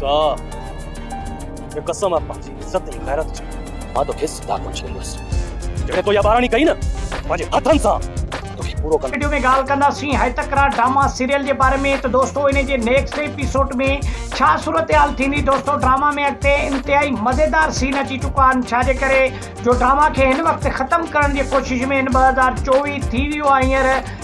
موسيٰ! هي قسم آهي پنهنجي عزت ۽ غيرت جي، مان تو کي زنده ڪونه ڇڏيندس، جيڪڏهن تو اها ٻاراڻي ڪئي نه، پنهنجي هٿن سان تو کي پورو ڪندس. وڊيو ۾ ڳالهه ڪنداسين هيء تڪرار ڊراما سيريل جي باري ۾ ته دوستو انهي جي نيڪسٽ ايپيسوڊ ۾ ڇا صورتحال ٿيندي دوستو ڊراما ۾ اڳتي انتهائي مزيدار سين اچي چڪا آهن ڇا جي ڪري جو ڊراما کي هن وقت ختم ڪرڻ جي ڪوشش ۾ هن ٻه هزار چوويهه ٿي ويو آهي هينئر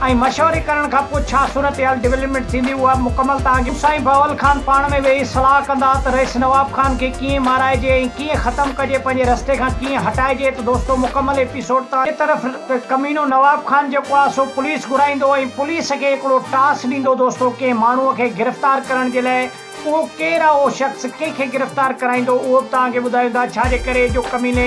۽ مشوري ڪرڻ کان پوء ڇا صورتحال ڊولپمينٽ ٿيندي اها به مڪمل توهان کي سائين بهول خان پاڻ ۾ ويهي صلاح ڪندا ته رئيس نواب خان کي ڪيئن مارائجي ۽ ڪيئن ختم ڪجي پنهنجي رستي کان ڪيئن هٽائجي ته دوستو مڪمل ايپيسوڊ توهان جي طرف ڪمينو نواب خان جيڪو آهي سو پوليس گهرائيندو ۽ پوليس کي هڪڙو ٽاس ڏيندو دوستو ڪنهن ماڻهو کي گرفتار ڪرڻ جي لاء اهو ڪير آهي اهو شخص ڪنهن کي گرفتار ڪرائيندو اهو به توهان کي ٻڌايوندا ڇا جي ڪري جو ڪميني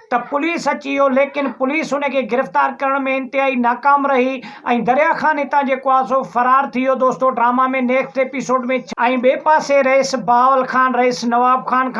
ته پوليس اچي ويو ليڪن پوليس ان کي گرفتار ڪرڻ ۾ انتهائي ناڪام رهي ۽ دريا خان هتان جيڪو آهي سو فرار ٿي ويو دوستو ڊراما ۾ نيڪسٽ ايپيسوڊ ۾ ڇا ۽ ٻئي پاسي رئيس بهاول خان رئيس نواب خان کان